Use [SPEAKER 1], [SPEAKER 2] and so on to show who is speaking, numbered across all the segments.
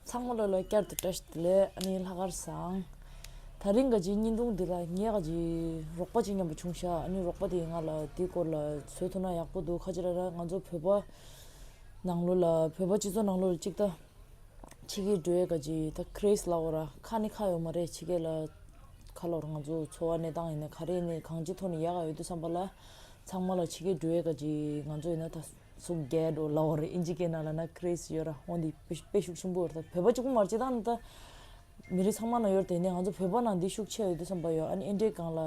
[SPEAKER 1] ཚང་མ་ལོ་ལོ་བསྐྱར་དུ་བཀྲ་ཤིས་བདེ་ལེགས་གནས་ལྷ་དཀར་བཟང། ད་རིང་ག་ཅིག་སྙིང་སྟོང་འདི་ལ་ངས་ག་ཅིག་རོགས་པ་ཅིག་མཉམ་པ་བྱུང་ཤག་ཨ་ནི་རོགས་པ་དེ་ང་ལ་དེ་སྐོར་ལ་བཟོས་ཐུབ་ན་ཡག་པོ་འདུག་ཁ་ཅིག་ར་ར་ང་ཚོ་བོད་པ་ནང་ལོ་ལ་བོད་པ་སྤྱི་ཚོགས་ནང་ལོ་ལ་ཅིག་ད་ཕྱི་གི་འགྲོ་ཡས་ག་ཅིག་ད་ཁ་རེས་ལ་འོ་ར་ཁ་ནི་ཁ་ཡོག་མ་རེད་ཕྱི་གས་ལ་ཁ་ལོར་ང་ཚོ་འཚོ་བ་གནས་སྟངས་ཡིན་ན་ག་རེ་ནས་གང་ཅིག་ཐོག་ནས་ཡག་ག་ཡོད་དུ་བསམ་པ་ལ་ཚང་མ་ལ་ཕྱི་གས་འགྲོ་ཡས་ག་ཅིག་ང་ཚོ་ཡིན་ན་ད། སུ་རྒྱལ་རོ་ལ་ཝར་ཨིན་ཇི་ཀེ་ན་ལ་ན་ཀི་རེ་སི་ཡོད་ར་ཧོན་དེ་དཔེ་ཤུགས་ཆེན་པོ་ཡོད་ར་བོད་པ་གཅིག་པུ་མར་སྤྱི་དང་ད་མི་རིགས་ཚང་མ་ན་ཡོད་ར་དེ་ནས་ང་ཚོ་བོད་པ་ན་འདི་ཤུགས་ཆེ་ཡོད་དུ་བསམ་པ་ཡོད་ཨ་ནི་ཨིན་དྲེ་གང་ལ་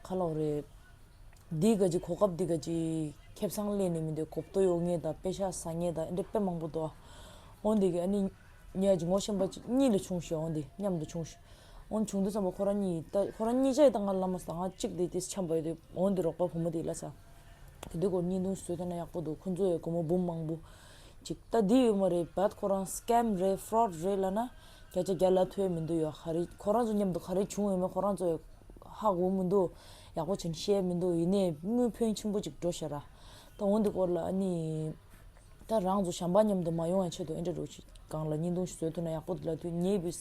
[SPEAKER 1] ཁ་ལོག་རེད། འདི་དགའ་ཅིག་གོ་སྐབས་འདི་དགའ་ཅིག་ཁེབས་སང་གླེན་ནས་མི་འདོད་གོ་བསྟོད་ཡོ་ངེས་ད་དཔེ་ཤ་ཟ་ངེས་ད་ཨིན་དྲེ་དཔེ་མང་པོ་འདུག་ཨ་ཧོན་དེ་གི་ཨ་ནི་ཉལ་ཅིག་ངོ་ཤེས་པ་ཅིག་གཉིས་ལས་ཆུང་ཤོས་ཨ་ཧོན་དེ་མཉམ་དུ་ཆུང་ཤོས་ཨ་ཧོན་བྱུང་དུ་བསམ་པ་ཁོ་རང་གཉིས་ད་ཁོ་རང་གཉིས་ཅག་ཡི་ད་ང་ལ་མ་ཟ་ད་ང་གཅིག་དེ་དེ་ཆམ་པ་ཡོད་དུ་ཨ་ཧོན་དེ་རོགས་པ་བུ་མོ་དེ་ལ་ཟ། དེ་འདི་སྐོར་གཉིས་འདུག་བཟོས་ཐོན་ན་ཡག་པོ་འདུག་ཁོང་ཚོ་ཡའི་སྒོར་མོ་འབུམ་མང་པོ། ཅིག་ད་འདི་ཡོད་མ་རེད་བད་ཁོ་རང scam རེད fraud རེད་ལ་ན་བརྒྱ་ཆ་བརྒྱ་ལ་ཐོས་མི་འདུག་ཡོད་ཧ་རེད་ཁོ་རང་ཚོ་མཉམ་དུ་ག་རེ་བྱུང་ཡོད་མེད་ཁོ་རང་ཚོ་ཡོད་ཧ་གོ་མི་འདུག་ཡག་པོ་བྱིན་ཤེས་མི་འདུག་ཡིན་ནས་དངུལ་ཕོན་ཆེན་པོ་ཅིག་འགྲོ་ཤེས་ར། ད་འོ་འདི་སྐོར་ལ་ཨ་ནི། ད་རང་ཚོ་བྱམས་པ་མཉམ་དུ་མ་ཡོང་བའི་ཆེད་དུ་ཨེ་འདྲ་འགྲོ་ཅིག་གང་ལ་གཉིས་འདུག་བཟོས་ཐོན་ན་ཡག་པོ་འདུག་ལ་དུས་ངེས་པའི།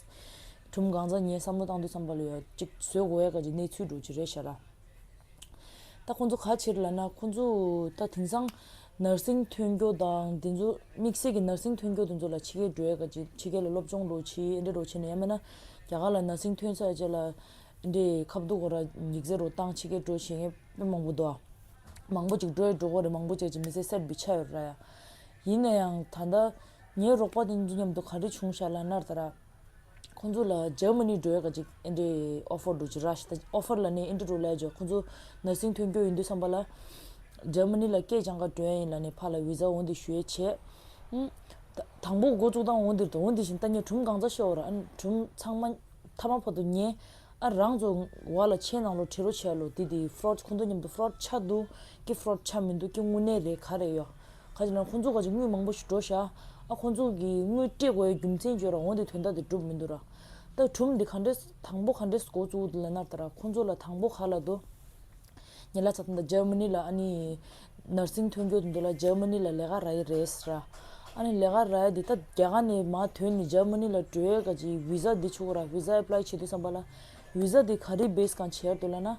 [SPEAKER 1] གྲུམ་གང་ཚ་ངས་བསམ་བློ་བཏང་དུས་བསམ་པ་ལ་ཡོད་ཅིག་བཟོས་གོ་ཡ་ག་ཅིག་གནས་ཚུལ་འགྲོ་ཅི་རེད་ཤེས་ར། ད་ཁོང་ཚོ་ག་ཕྱིར་ལ་ན་ཁོང་ཚོས་ད་དེང་སང་ནར་སིང་ཐོན་སྐྱོ་དང་དེ་ཚོ་དམིགས་བསལ་གྱི་ནར་སིང་ཐོན་སྐྱོ་དེ་ཚོ་ལ་ཕྱི་རྒྱལ་འགྲོ་ཡ་ག་ཅིག་ཕྱི་རྒྱལ་ལ་སློབ་སྦྱོང་འགྲོ་ཕྱིའི་ཨེ་འདྲས་འགྲོ་ཕྱིར་ན་ཡང་མིན་ན་རྒྱ་གར་ལ་ནར་སིང་ཐོན་ས་ཡ་བྱས་ལ་ཨེ་འདྲས་ཁ་བསྡུ་གོ་ར་འགྱིག་རྩེ་རུ་བཏང་ཕྱི་རྒྱལ་འགྲོ་བྱེད་མཁན་དཔེ་མང་པོ་འདུག་ཨ། མང་པོ་ཅིག་འགྲོ་ཡ་འགྲོ་གོ་རེད་མང་པོ་ཅིག་ཅིག་མི་ཚེ་གསེར་བུ་ཆགས་ཡོད་ར་ཡ། ཡིན་ན་ཡང་ད་ལྟ་ངའི་རོགས་པ་དེ་ཚོ་མཉམ་དུ་ག་རེ་བྱུང་ཤ་ལ་ནར་ད་ར། ཁོང་ཚོ་ལ་ཇར་མ་ནི་འགྲོ་ཡ་ག་ཅིག་ཨེ་འདྲའི་ཨོ་ཕོར་འགྲོ་ཅི་ར་ཤི་ད་ཨོ་ཕོར་ལ་ནི་ཨེ་འདྲ་འགྲོ་ལས་ཇོ་ཁོང་ཚོ་ནར་སིང་ཐོན་རྒྱུ་ཡིན་འདུག་བསམ་པ་ལ། ཇར་མ་ནི་ལ་སྐད་སྦྱང་ག་འགྲོ་ཡ་ཡིན་ལ་ནི་ཕ་ལ་བི་ཛ་འོ་འདི་ཞུ་ཡ་བྱེད། དང་པོ་འགོ་བཙུགས་སྟངས་འོ་འདིར་དང་འོ་འདི་བཞིན་ལྟ་ཉེ་གྲུམ་གང་ཚ་ཤོ་ར་ཨ་ནི་གྲུམ་ཚང་མ་མཐའ་མ་ཕོ་དོ་ཉེ། ཨ་རང་ཚོ་བ་ལ་ཆེས་ནང་ལོ་ཁྲི་རོ་ཆལ་ལོ་དེ་དེ fraud ཁོ་ཚོ་མཉམ་དུ fraud ཆགས་འདུག་གི fraud ཆགས་མི་འདུག་གི་དངུལ་གནས་རེད་ག་རེད་ཡོད་ག་ཅིག་ན་ཁོ་ཚོ་ག་ཅིག་དངུལ་མང་པོ་ཞིག་འགྲོ་ཤག་ཨ་ཁོ་ཚོ་གི་དངུལ་སྤྲད་དགོས་ཡ་རྒྱུ་མཚན་བརྗོད་ར་འོང་དེ་དོན་དག་དེ་གྲུབ་མི་འདུག་ར་ད་གྲུབ་འདི་ག་འདྲས་དང་པོ་ག་འདྲས་སུ་གོ་བཙུགས་འདུག་ལ་ནར་ད་ར་ཁོ་ཚོ་ལ་དང་པོ་ག་ལ་དུ། ཉེ་ལ་ཚབ་ན Germany ལ་ཨ་ནི Nursing ཐོན་རྒྱུ་འདུག་ལ Germany ལ་ལས་ཀ་ར་ཡི་རེད་ཟེར། ཨ་ནི་ལས་ཀ་ར་ཡི་འདི་ད་རྒྱ་གར་ནས་མ་ཐོན་ནས Germany ལ་འགྲོ་ཡས་ག་ཅིག Visa འདི་ཆུགས་ར Visa apply བྱེད་དུས་བསམ་པ་ལ Visa འདི་ག་རི base གང་བྱེར་འདུག་ལ་ན།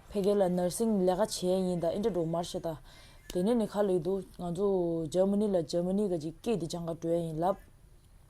[SPEAKER 1] ཕེ་རྒྱ་ལ Nursing ལས་ཀ་བྱས་ཡིན་ད་ཨིན་དྲ་འགྲོ་མར་བྱེད་ད། དེ་ནས་ནས་ཁ་ལེགས་འདུག་ང་ཚོ Germany ལ Germany ག་ཅིག་སྐད་འདི་སྦྱང་ག་འགྲོ་ཡས་ཡིན་ལབ།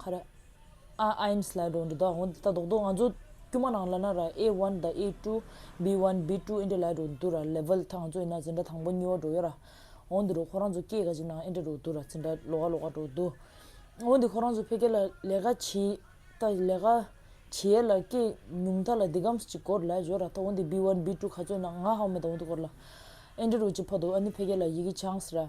[SPEAKER 1] ཁ་ར། ཨ་ཨཱིན་སི་ལའི་སྒྲོག་འགྲེལ་དག་ཧོན་ཏི་ད་དོག་དོག་ང་ཚོ་དཀྱུས་མ་ནང་ལ་ན་ར་ཨེ་ཝན་དང་ཨེ་ཏུ། བི་ཝན་བི་ཏུ་ཨིན་དྲ་ལའི་སྒྲོག་འདུག་ར་ལེབལ་ཐང་ང་ཚོ་ཡིན་ན་ཛི་འདྲ་དང་པོ་གཉིས་བ་སྒྲོག་ཡོད་ར། ཧོན་ཏི་རུ་ཁོ་རང་ཚོ་སྐྱེས་ག་ཅིག་ནང་ཨིན་དྲ་སྒྲོག་འདུག་ར་ཛི་འདྲ་ལོ་ག་ལོ་ག་སྒྲོག་འདུག། ཧོན་ཏི་ཁོ་རང་ཚོ་ཕེ་ཀེ་ལ་ལས་ཀ་བྱི་ད་ལས་ཀ་བྱི་ཡས་ལ་སྐྱེས་ཉུང་ད་ལ་དི་གམ་སི་ཅིག་སྐོར་ལ་བྱོ་ར་ད་ཧོན་ཏི་བི་ཝན་བི་ཏུ་ག་ཚོད་ན་ང་ཧའོ་མེ་ད་ཧོན་ཏི་སྐོར་ལ་ཨིན་དྲ་རུ་བྱི་ཕ་དོ་ཨ་ནི་ཕེ་ཀེ་ལ་ཡི་གི་ཆང་སི་ར།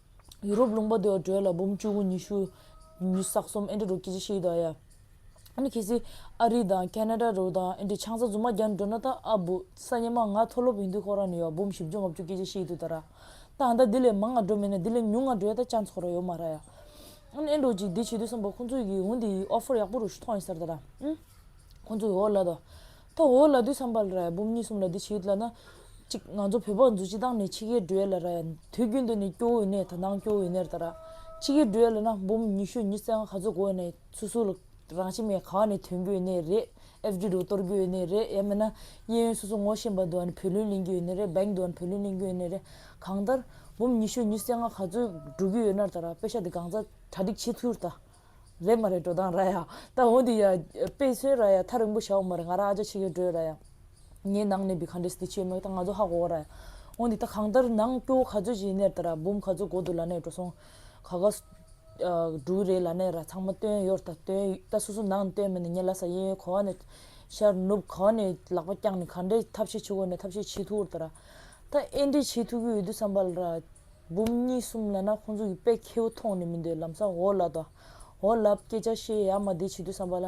[SPEAKER 1] ཡུ་རོབ་ལུང་པ་དུ་ཡང་བྲོས་ལ་འབུམ་བཅུ་དགུ་ཉི་ཤུ། ཉི་ཟག་གསུམ་ཨེ་འདྲེ་རུ་སྐྱེ་འཆི་ཤི་དང་ཡ། ཨ་ཁེ་སི། ཨ་རི་དང་ཀ་ནེ་ར་རུ་དང་ཨེ་འདྲེ་ཆང་ས་རྫུན་མ་རྒྱ་འགྲོ་ན་ད་ཨ་བུ། ས་ཉི་མ་ང་མཐོ་སློབ་ཡིན་དུས་ཁོ་རང་ནས་ཡོ་འབུམ་བཞི་བཅུ་ལྔ་བཅུ་སྐྱེ་འཆི་ཤི་དུས་ད་ར། ད་ཨ་མདའ་འདི་ལས་མང་ང་འགྲོ་མེད་ན་འདི་ལས་ཉུང་ང་འགྲོའི་ད་ཅང་ཚོགས་ར་ཡོ་མ་ར་ཡ། ཨེ་འགྲོ་ཅིག་འདི་བྱེད་དུས་སོང་པ་ཁོང་ཚོས་གིས་འུ་འདི་ཡིས་ཨོ་ཕོར་ཡག་པོ་རུ་ཤུ་ཐོག་ཡིན་སར་ད་ར། ཨུ། ཁོང་ཚོས་ཨོ་ལ་ད། ཐོ་འོད་ལ་དུས་སམ་པར་ར་ཡ་འབུམ་གཉིས་གསུམ་ལ་འདི་ཕྱི་ཡུལ་དུ་ལ་ན། གཅིག་ང་ཚོ་བོད་པ་འཛུ་སྤྱི་དང་ནི་ཕྱི་ཁའི་འགྲུལ་ཡ་ལ་ར་ཡ་དུས་རྒྱུན་དུ་ནི་སྐྱོ་འོད་ནས་ད་ནང་སྐྱོ་འོད་ནེར་ད་ར། ཕྱི་ཁའི་འགྲུལ་ཡ་ལ་ན་འབུམ་ཉི་ཤུ་ཉི་ཙང་ག་ཚོད་གོ་ཡ་ནས་སུ་སུ་ལ་རང་ཕྱི་མའི་ཁ་བ་ནས་དོན་གྱོ་ནེར་རེད་ཨེ་བརྒྱུད་དུ་གཏོར་གྱོ་ནེར་རེད་ཡ་མེད་ན་གཡས་གཡོན་སུ་སུ་ངོ་ཤེས་འབའ་དུ་ཨ་ནི་བོད་ལུན་ལེན་གྱོ་ནེར་རེད་འབའ་དུ་ཨ་ནི་བོད་ལུན་ལེན་གྱོ་ནེར་རེད་གང་ལྟར། འབུམ་ཉི་ཤུ་ཉི་ཙང་ག་ཚོད་འགྲོ་གྱོ་ཡོད་ནར་ད་ར་དཔེ་ཆ་དེ་གང་ཚ་གྲ་སྒྲིག་བྱེད་ཚུར་ད། རེད་མ་རེད་འགྲོ་སྟངས་ར་ཡ། ད་འོ་འདི་ཡ། དཔེ་ཚོའི་ར་ཡ་ཐ་རིང་པོ་བྱ་འོ་མ་རེད་ང་རང་ཨ་ཅག་ཕྱི་རྒྱལ་བྲོས་ར་ཡ། ངའི་ནང་ནས་བི་ག་འདྲེས་འདི་བྱས་མོད་ད་ང་ཚོ་ཧ་གོ་གོ་ར་ཡ། འོ་འདི་ད་གང་ལྟར་ནང་སྐྱོ་ག་ཚོད་ཅིག་ཡིན་ནེར་ད་ར་འབུམ་ག་ཚོད་གོ་འདུག་ལ་ནེར་འགྲོ་སོང། ག་ག། འབྲུག་རེད་ལ་ནེར་ར་ཚང་མ་བཏོན་ཡོར་ད་བཏོན་ད་སོ་སོ་ནང་ནས་བཏོན་མེད་ནི་ངའི་ལ་ས་ཡེ་གོ་ག་ནས། ཤར་ནུབ་གོ་ག་ནས་ལག་པ་བརྐྱངས་ནས་ག་འདྲེས་ཐབས་ཤེས་བྱེད་དགོས་ནས་ཐབས་ཤེས་བྱེད་ཐུག་འོར་ད་ར། ད་ཨེ་འདྲེས་བྱེད་ཐུག་གི་ཡོད་དུས་བསམ་པ་ལ་ར། འབུམ་གཉིས་གསུམ་ལ་ན་ཁོང་ཚོ་གི་པད་ཁྱེའུ་མཐོང་ནས་མི་འདོད་ལམ་ས་འོ་ལ་དོ་འོ་ལབ་སྐད་ཆ་བཤད་ཡ་མ་དེ་བྱེད་དུས་བསམ་པ་ལ་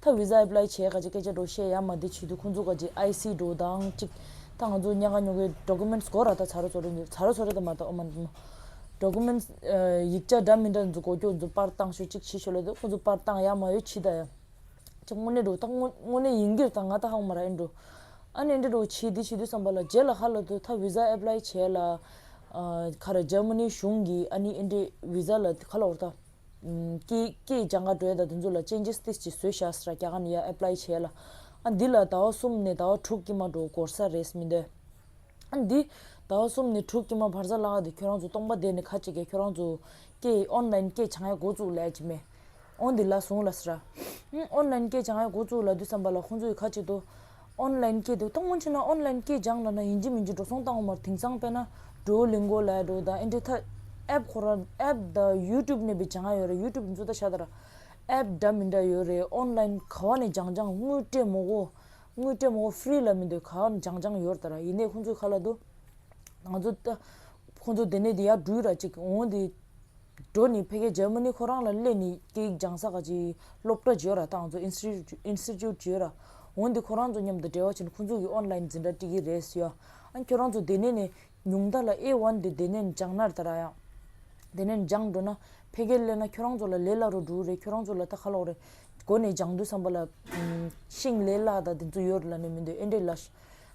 [SPEAKER 1] ཐ་བི་ཛ་ཨེཔླའི་བྱས་ག་ཅེས་སྐད་ཆ་འགྲོ་བཤད་ཡ་མ་དེ་བྱེད་དུས་ཁོང་ཚོ་ག་ཅེས་ཨའི་སི་འགྲོ་དང་གཅིག་ད་ང་ཚོ་གཉའ་ག་ཉོ་གའི Documents སྒོ་ར་ད་ཚ་རོ་ཚོ་རེད་འདུག་ཚ་རོ་ཚོ་རེད་ད་མ་ད་འོ་མ་འདུག་མོ Documents ཡིག་ཆ་འདྲ་མི་འདྲ་འཛུགས་གོ་ཁྱོད་ཚོ་པར་བཏང་ཤོག་གཅིག་བྱེད་ཤོག་ལ་དེ་ཁོང་ཚོ་པར་བཏང་ཡ་མ་ཡོད་ཕྱི་ད་ཡ་ཅེས་དངོས་གནས་འགྲོ་ད་དངོས་གནས་ཡིན་གྱིར་ད་ང་ད་ཧ་གོ་མ་ར་ཨེ་འགྲོ་ཨ་ནེ་འདྲེ་འགྲོ་བྱས་དེ་བྱེད་དུས་བསམ་པ་ལ་རྗེས་ལ་ཧ་ལ་དུ་ཐ་བི་ཛ་ཨེཔླའི་བྱས་ལ། ཁར་ཇར་མ་ནི་གཞུང་གིས་ཨ་ནི་ཨིན་ཏྲེ་བི་ཛ་ལ་ཁ་ལོར་ཏ། ཀེ་ཀེ་ཇང་ག་གྲོའི་ད་དེ་ཚོ་ལ་ཅན་ཇི་སྟི་ཅི་བཟོས་ཤ་ས་ར་ཀྱ་ག་ནི་ཡ་ཨེ་པླའི་བྱས་ལ། ཨ་འདི་ལ་ད་བ་གསུམ་ནི་ད་བ་དྲུག་ཀྱི་མ་འགྲོ་གོར་ས་རེས་མི་འདོད། ཨ་འདི་ད་བ་གསུམ་ནི་དྲུག་ཀྱི་མ་བར་ས་ལ་ག་དེ་ཁྱོད་རང་ཚོ་སྟོང་པ་དེ་ནི་ཁ་ཅིག་ག་ཁྱོད་རང་ཚོ། ཀེ་ཨོན་ལན་ཀེ་ཇང་ཡ་འགོ་བཙུགས་ལས་ཅི་མེད། ཨོན་འདི་ལ་ཟུང་ལ་ས་ར། ཨོན་ལན་ཀེ་ཇང་ཡ་འགོ་བཙུགས་ལ་དུས་སམ་པ་ལ་ཁོང་ཚོ་ཡི་ཁ་ཅིག་ཏུ། ཨོན་ལན་སྐྱེས་འདུག་ད་སྔོན་ཆད་ན་ཨོན་ལན་སྐྱེས་སྦྱངས་ལ་ན་ཡིན་གྱི་མིན་གྱི་འགྲོ་སོང་བཏང་བ་མར་དེང་སང་དཔེ་ན་ཏྲོའུ་ལིང་གོ་ལའི་ཏྲོའུ་དང་ཨིན་ཏྲེ་ཐ་ཨེབ་ཁོ་ར་ཨེབ་ད་ཡུའུ་ཏུབ་ནས་པའི་བྱ་ང་ཡོད་རེད་ཡུའུ་ཏུབ་གི་འཛུ་ད་ཤ་ད་ར་ཨེབ་འདྲ་མི་འདྲ་ཡོད་རེད་ཨོན་ལན་ག་བ་ནས་སྦྱངས་སྦྱངས་དངུལ་སྤྲད་མོ་གོ་དངུལ་སྤྲད་མོ་གོ་ཧྥེ་རི་ལ་མི་འདོད་ག་བ་ནས་སྦྱངས་སྦྱངས་ཡོད་ར་ད་ར་ཡིན་ནས་ཁོང་ཚོའི་ཁ་ལ་དུ་ང་ཚོ་ད་ཁོང་ཚོ་དེ་ནས་དེ་ཡར་འགྲུལ་ར་ཅིག་འོང་དེ། འགྲོ་ནི་བྷེ་གྷལ་ཇར་མ་ནི་ཁོ་རང་ལ་སླེབས་ནས་སྐད་ཡིག་སྦྱང་ས་ག་ཅིག་སློབ་གྲྭ་བརྗོད་ར་བཏང་ཚོ Institute བརྗོད་ར། འོན་ཏེ་ཁོ་རང་ཚོ་མཉམ་དུ་འབྲེལ་བ་བྱས་ན་ཁོ་ཚོ་གིས Online འཛིན་གྲྭ་བཀྲིས་ཀི་རེད་ཟེར། ཨ་ཁྱོད་རང་ཚོ་དེ་ནས་ནས་ཉུང་མཐའ་ལ་ཨེ་ཝན་དེ་དེ་ནས་སྦྱང་ནར་ད་ར་ཡང། དེ་ནས་སྦྱང་འགྲོ་ན་བྷེ་གྷལ་སླེབས་ན་ཁྱོད་རང་ཚོ་ལ་ལས་སླ་རུ་འགྲོ་རེད་ཁྱོད་རང་ཚོ་ལ་ད་ཁ་ལོག་རེད། གོ་ནས་སྦྱང་འདོད་བསམ་པ་ལ་ཤིང་ལས་སླ་ད་དེ་ཚོ་ཡོད་ར་ལ་ནས་མི་འདོད་ཨེ་འདྲས་ལ།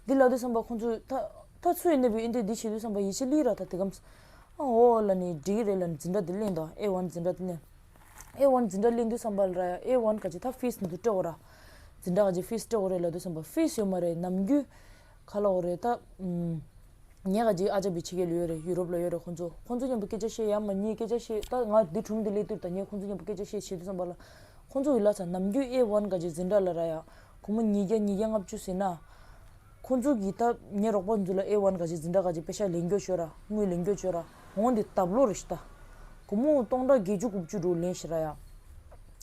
[SPEAKER 1] འདི་ལ་འདོད་བསམ་པ་ཁོ་ཚོས་ད། ད་ཚོད་ཡི་གནས་པའི་ཨེ་འདི་འདི་བྱེད་དུས་བསམ་པ་ཡིད་ཆེས་ལི་ར་ད་དེ་གམ། ཨ་ཧོ་ལ་ནི་འགྲིག་གི་རེད་ལ་འཛིན་གྲྭ་འདི་གླེང་དང་ཨེ་ཝན་འཛིན་གྲྭ་འདི་གླེང། ཨེ་ཝན་འཛིན་གྲྭ་གླེང་དུས་བསམ་པ་ལི་ར་ཡ་ཨེ་ཝན་ག་ཅི་ད་ཕིས་འདི་འདུག་སྤྲེའོ་ར། འཛིན་གྲྭ་ག་ཅི་ཕིས་སྤྲེའོ་རེད་ལ་དུས་བསམ་པ་ཕིས་ཡོད་མ་རེད་ནམ་རྒྱུན། ག་ལ་འོ་རེད་ད། ངས་ག་ཅི་ཨ་ཅག་བི་ཆི་ཁའི་ལུས་ཡོད་རེད་ཡུ་རོབ་ལ་ཡོད་རེད་ཁོང་ཚོ་ཁོང་ཚོ་མཉམ་དུ་སྐད་ཆ་བཤད་ཡ་མ་ཉེས་སྐད་ཆ་བཤད་ད་ང་འདི་དྲུང་འདི་ལས་དུར་ད་ངས་ཁོང་ཚོ་མཉམ་དུ་སྐད་ཆ་བཤད་བྱེད་དུས་བསམ་པ་ལ། ཁོང་ཚོ་འི་ལ་ཚ་ནམ་རྒྱུན་ཨེ་ཝན་ག་ཅི་འཛིན་གྲྭ་ལ་ར་ཡ། ཁོ་མོ་ཉིས་བརྒྱ་ཉིས་བརྒྱ་ལྔ་བཅུ་ཟིན་ན། ཁོ་ཚོ་གིས་ད་ངའི་རོགས་པ་འཛུལ་ལ་ཨེ་ཝན་ག་ཅིག་འཛིན་གྲྭ་ག་ཅིག་པེ་ཤ་ལེན་རྒྱོ་ཤོད་ར་དངུལ་ལེན་རྒྱོ་ཤོད་ར་འོང་འདི་ད་བློ་རེ་ཤི་ད། གུ་མུ་སྟོང་དགྲ་བགེགས་བཅུ་དགུ་བཅུ་དྲུག་ལེན་ཤི་ར་ཡ།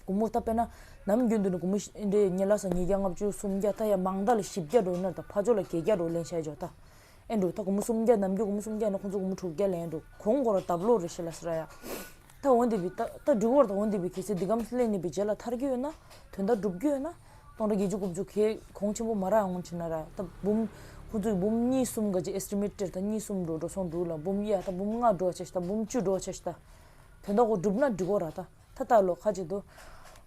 [SPEAKER 1] གུ་མུ་ད་པེ་ན་ནམ་རྒྱུན་དུ་ནི་གུ་མུ་འདྲེ་ཉི་ལ་སང་ཉིས་བརྒྱ་ལྔ་བཅུ་སུམ་བརྒྱ་ད་ཡ་མང་དག་ལ་བཞི་བརྒྱ་དྲུག་ན་ད་ཕ་ཅོ་ལ་བརྒྱད་བརྒྱ་དྲུག་ལེན་ཤ་ཇོ་ད། ཨེ་འདུག་ད་གུ་མུ་སུམ་བརྒྱ་ནམ་རྒྱུན་གུ་མུ་སུམ་བརྒྱ་ཡིན་ན་ཁོ་ཚོ་གུ་མུ་དྲུག་བརྒྱ་ལེན་འདུག་གོང་གོ་ར་ད་བློ་རེ་ཤི་ལ་སི་ར་ཡ། ད་འོ་འདི་བི། ད་སྒྲུག་བར་ད་འོ་འདི་བི་གལ་སྲིད་འདི་གམ་སླད་ནི་བི་རྗེས་ལ་ཐར་གྱི་ཡོད་ན་དོན་དག་འགྲུབ་རྒྱུ་ཡོད་ན། སྟོང་དགྲ་བརྒྱད་ཅུ་དགུ་བཅུ་ཁའི་གོང་ཆེན་པོ་མ་རག་ངོ་ཆེ་ན་རག་ད་འབུམ། ཧུར་ཚུགས་འབུམ་གཉིས་གསུམ་ག་ཅིག Estimate དེར་ད་གཉིས་གསུམ་འགྲོ་འགྲོ་སོང་འགྲོ་ལ་འབུམ་གཡས་ད་འབུམ་ལྔ་འགྲོ་བ་བྱས་ཤི་ད་འབུམ་བཅུ་འགྲོ་བ་བྱས་ཤི་ད། དོན་དག་གོ་འགྲུབ་ན་འགྲིག་གོ་རག་ད་ད་ལྟ་ལོ་ཁ་ཅིག་ཏུ།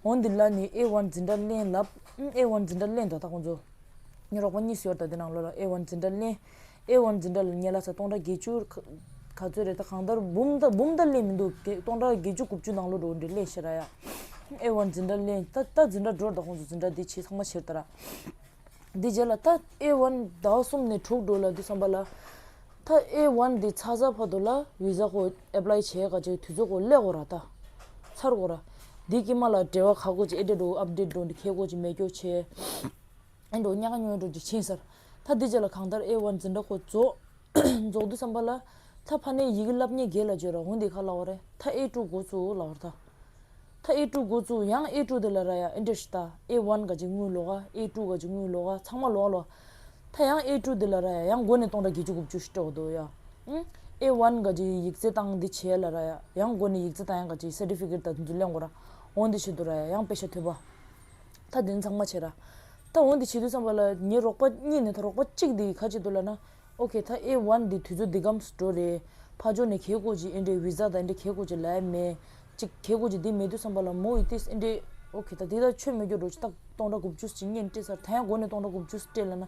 [SPEAKER 1] འོ་འདི་ལ་ནི་ཨེ་ཝྃ་འཛིན་གྲྭ་གླེང་ལབ། ཨེ་ཝྃ་འཛིན་གྲྭ་གླེང་དོ་ད་ཁོང་ཚོ། ཉི་རོག་པ་གཉིས་སུ་ཡོད་ད་འདི་ནང་ལོ་ལ་ཨེ་ཝྃ་འཛིན་གྲྭ་གླེང། ཨེ་ཝོན་འཛིན་གྲྭ་ལ་ཉེ་ལ་ཚ་སྟོང་དགྲ་བརྒྱད་ཅུ། ག་ཚོད་རེད་ད་གང་ལྟར་འབུམ་ལྟར་འབུམ་ལྟར་གླེང་མི་འདུག་བརྒྱད་སྟོང་དགྲ་བརྒྱད་ཅུ་དགུ་བཅུ་ནང་ལོ་འགྲོ་འདི་གླེང་ཤེས་ར་ཡ། ཨེ་ཝོན་འཛིན་གྲྭ་གླེང་ད་ད་འཛིན་གྲྭ་འགྲོར་ད་ཁོང་ཚོ་འཛིན་གྲྭ་འདི་བྱེད་ཚང་མ་བྱེར་ད་ར། འདི་བྱེར་ལ་ད་ཨེ་ཝོན་ཟླ་བ་གསུམ་ནས་དྲུག་འགྲོ་ལ་འདི་བསམ་པ་ལ། ད་ཨེ་ཝོན་འདི་ཚ་ཚ་བར་དོ་ལ་བི་ཟ་ཁོ Apply བྱས་ག་ཅིག་དུས་ཚོད་ཁོ་གླེག་གོ་ར་ད། ཚར་གོ་ར། འདི་ཀྱི་མ་ལ་འབྲེལ་བ་ག་གོ་ཅིག་ཨེ་འབྲེལ་འགྲོ་ཨབ་འབྲེལ་འགྲོ་འདི་ཁེལ་གོ་ཅིག་མེད་སྐྱོ་ཆེ། ཨེ་འགྲོ་གཉའ་ཁ་སྨྱོན་འགྲོ་འཇིགས་ཆེན་ཟེར། ཐ་དེ་རྗེས་ལ་གང་ལྟར་ཨེ་བར་འཛིན་དྲག་པོ་རྫོགས། འདི་བསམ་པ་ལ། ཐ་ཕ་ནའི་ཡི་གེ་བསླབ་ཉེས་དགེ་ལ་བརྗོད་ར་འོན་དེ་ག་ལ་བ་རེ་ཐ་ཨེ་དཀྲུག་འགོ་ཚུ་ལ་བར་ཐ། ཐ་ཨེ་དཀྲུག་འགོ་ཚུ་ཡང་ཨེ་དཀྲུག་དེ་ལ་ར་ཡ་ཨེ་འདྲེ་ཤི་ཐ་ཨེ་བར་འགའ་ཅིག་དངུལ་ལོ་ག་ཨེ་དཀྲུག་ག་ཅིག་དངུལ་ལོ་ག་ཚང་མ་ལོ་ག་ལོ། ཐ་ཡང་ཨེ་དཀྲུག་དེ་ལ་ར་ཡ་ཡང་མགོ་ནས་སྟོང་ཕྲག་བརྒྱད་ཅུ་དགུ་བཅུ་ཤི་སྤྲོ་དོ་ཡ། ཨེ་བར་འགའ་ཅིག་ཡིག་རྩེ་བཏང་འདི་བྱས་ལ་ར་ཡ་ཡང་མགོ་ནས་ཡིག་རྩེ་བཏང་ཡང་འགའ་ཅིག Certificate དང་དེ་ཚུ་གླེང་དགོ་ར་འོན་དེ་བྱེད་དོ་ར་ཡ་ཡང་དཔེ་ཆ་ཐོས་པ་ད་བདུན་ཚང་མ་བྱེད། ད་འོན་ཏེ་བྱེད་དུས་བསམ་པ་ལ་ཉིན་རོགས་པ་གཉིས་ནས་ད་རོགས་པ་གཅིག་དེ་ཡི་ཁ་ཕྱེ་འདུག་ལབ་ན། ཨོ་ཁེ་ད་ཨེ་ཝན་འདི་དུས་ཚོད་འདི་གམ་སུ་འགྲོ་རེད། ཕ་ཇོ་ནས་གྷེ་ཀོ་ཇི་ཨེ་འདྲའི་བྷི་ཛ་ད་ཨེ་འདྲའི་གྷེ་ཀོ་ཇི་ལ་ཨེ་མེད། ཅིག་གྷེ་ཀོ་ཇི་དེ་མེད་དུས་བསམ་པ་ལ་མོ་ཨི་ཏིས་ཨེ་འདྲའི། ཨོ་ཁེ་ད་དེ་ད་ཆོས་མེད་སྐྱོར་འགྲོ་ཆུ་རྟགས་སྟོང་དྲ་དགུ་བཅུ་གཅིག་གཉིས་སྤྲད་སར་ད་ཡང་སྒོ་ནས་སྟོང་དྲ་དགུ་བཅུ་སྤྲད་ལབ་ན།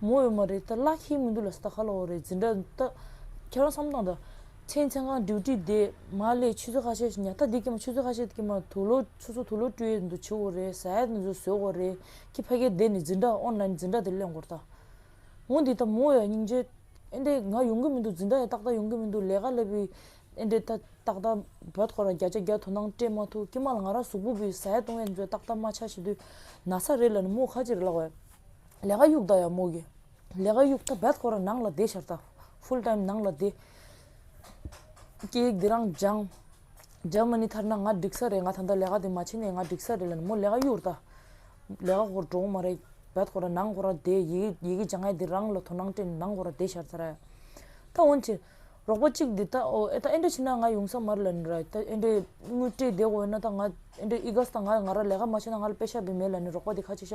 [SPEAKER 1] མོ་ཡོད་མ་རེད་ད་བླ་ཁྱིའི་མི་འདུག་ལ་སྟ་ག་ལ་འོ་རེད་འཛིན་གྲྭ་ད། ཁྱེད་རང་བསམ་སྟངས་ད། ཁྱེད་མཚན་གང་འདྲིའུ་ཏྲི་དེ་མ་ལས་ཆུ་ཚོད་ཁ་ཤས་ཉག་ཐ་དེ་ཀྱེ་མ་ཆུ་ཚོད་ཁ་ཤས་ཀྱེ་མ་དུ་ལོ་ཆུ་ཚོད་དུ་ལོ་ཏྲི་ཡས་འདུག་བྱེད་འོ་རེད་ཟ་ཡས་འདུག་ཟོས་འོ་རེད་ཁྱེད་ཕ་གས་དེ་ནས་འཛིན་གྲྭ་ཨོན་ལའིན་འཛིན་གྲྭ་དེ་གླེང་གོར་ད། ངོ་འདི་ད་མོ་ཡ་སྙིང་རྗེ། ཨེ་འདྲེ་ང་ཡོང་གི་མི་འདུག་འཛིན་གྲྭ་ཡ་ཏག་ཏག་ཡོང་གི་མི་འདུག་ལས་ཀ་སླེབས་པའི་ཨེ་འདྲེ་ད་ཏག་ཏག་བོད་སྐོར་ལ་བརྒྱ་ཆ་བརྒྱ་དོ་སྣང་སྤྲད་མ་ཐུབ་ཀྱེ་མ་ལ་ང་རང་གཟུགས་པོ་བུས་ཟ་ཡས་བཏུང་ཡས་འཛོལ་ཏག་ཏག་མ་ཆགས་བྱེད་དུས་ན་ཚ་རེད་ལ་ནི་མོ་ཁ་ཅིག་རེད་ལ་འོས། ལེ་ག་ཡུག་ད་ཡ་མོ་གི། ལེ་ག་ཡུག་ད་བད་ཁོ་ར་ནང་ལ་བསྡད་ཤར་ད། Full time ནང་ལ་བསྡད། སྐད་ཡིག་འདི་རང་སྦྱངས། འཇར་མ་ནི་ཐར་ན་ང་འགྲིག་ས་རེད་ང་ད་ལྟ་ལེ་ག་དེ་མ་ཕྱིན་ནས་ང་འགྲིག་ས་རེད་ལ་ནི་མོ་ལེ་ག་ཡུག་ར་ད། ལེ་ག་ཁོ་ར་འགྲོ་གི་མ་རེད་བད་ཁོ་ར་ནང་ཁོ་ར་བསྡད་ཡི་གི་ཡི་གི་སྦྱང་ཡ་འདི་རང་ལ་དོ་སྣང་སྤྲད་ནས་ནང་ཁོ་ར་བསྡད་ཤར་ད་ར། ད་འོན་ཏེ། རོགས་པ་གཅིག་འདི་ད་ཨོ་ཨེ་ད་ཨེ་འདྲ་ཕྱིན་ན་ང་ཡོང་ས་མ་རེད་ལ་ནི་ར་ད་ཨེ་འདྲའི་དངུལ་སྤྲད་བསྡད་གོ་ཡོད་ན་ད་ང་ཨེ་འདྲའི་ཨི་དགའ་ས་ད་ང་ང་ར་ལེ་ག་མ་ཕྱིན་ན་ང་ལ་དཔེ་ཤ་བི་མེད་ལ་ནི་རོགས་པ་འདི་ཁ་ཆེ་ཤ་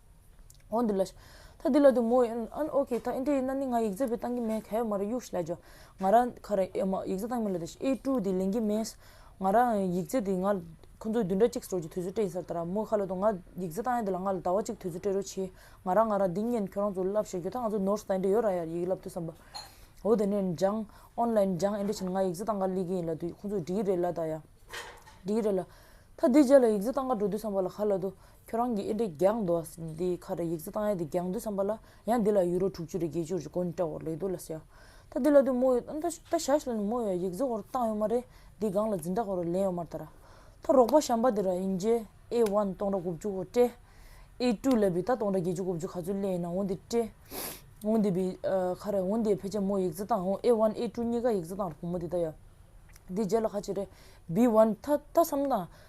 [SPEAKER 1] ཨོ་འདི་ལ། ད་འདི་ལ་དུ་མོ་ཡིན། ཨན་ཨོ་ཁེ། ད་ཨིན་ཏེ་ཨིན་ན་ནི་ང་ཡིག་རྫས་བུད་གཏང་གི་མེད་ག་ཡོད་མ་རེད་གཡུགས་ཤིག་ལ་ཇོ། ང་རང་ཁ་ར་ཨེ་མ་ཡིག་རྫས་གཏང་མི་ལ་དེ་ཤི་ཨེ་ཀྲུའུ་དེ་ལེན་གི་མེད། ང་རང་ཡིག་རྫས་དེ་ང། ཁོ་ཚོ་བདུན་ཕྲག་གཅིག་སོར་གྱི་དུས་ཚོད་སྤྲད་ཡིན་སར་ད་ར་མོ་ཁ་ལ་དུ་ང་ཡིག་རྫས་གཏང་ཡ་དེ་ལ་ང་ལ་ཟླ་བ་གཅིག་དུས་ཚོད་སྤྲད་རོགས་གྱིས། ང་རང་ང་རང་འདི་ཉིན་ཁྱོད་རང་ཚོ་ལབ་ཤེས་གྱོད་ད་ང་ཚོ་ནོར་སི་ད་ཨིན་ཏེ་ཡོད་ར་ཡར་ཡིག་ལབ་དུས་སམ་པ། ཨོ་དེ་ནས་འཇང། ཨོན་ལ་འཇང་ཨིན་ཏེ་ཕྱིན་ང་ཡིག་རྫས་གཏང་ག་ལི་གི་ཡིན་ལ་དུས་ཁོ་ཚོ་འགྲིག་གི་རེད་ལ་ད་ཡ། འགྲིག་གི་རེད་ལ། ད་འདི་བརྒྱད་ལ་ཡིག་རྫས་གཏང་ག་འགྲོ་དུས་སམ་པ་ལ་ཁ་ལ་དུ། ཁྱོད་རང་གིས་ཨེ་འདྲས་རྒྱག་འདུག་ཨ་ཟེར་ནས་དེའི་ཁ་བྲལ་ཡིག་རྩིས་བཏང་ཡས་དེ་རྒྱག་འདུག་བསམ་པ་ལ་ཡང་འདི་ལ་ཡུ་རོ་དྲུག་ཅུ་རེ་བརྒྱད་ཅུ་རེ་གོན་སྤྲད་འོག་ལེགས་འདུག་ལ་ཟེར། ད་འདི་ལ་དུས་མོ་ཡོད་ད་ད་ཞག་ཞིག་ལ་ནི་མོ་ཡོད་ཡིག་རྩིས་ཧོར་བཏང་ཡོད་མ་རེད་འདི་སྒང་ལ་འཛིན་གྲྭ་ཧོར་ལེན་ཡོད་མ་རེད་ད་ར། ད་རོགས་པ་བྱམས་པ་དེ་ར་ཨིན་རྗེ་ཨེ་ཝན་སྟོང་ར་དགུ་བཅུ་ཧོར་སྤྲད། ཨེ་ཀྲུའུ་ལ་བི་ད་སྟོང་ར་བརྒྱད་ཅུ་དགུ་བཅུ་ག་ཚོད་གླེང་ཡིན་ན་འོན་ཏེ་སྤྲད། འོན་ཏེ་བི་ཁ་རེད་འོན་ཏེ་ཕལ་ཆེར་མོ་ཡིག་རྩིས་བཏང་ཨེ་ཝན་ཨེ་ཀྲུའུ་གཉིས་ཀ་ཡིག་རྩིས་བཏང་ར་བུ་མོ་དེ་ད་ཡ། དེ་རྗེས་ལ་ཁ་ཆེ་རེད་བི་ཝན་ད་ད་བསམ་ན།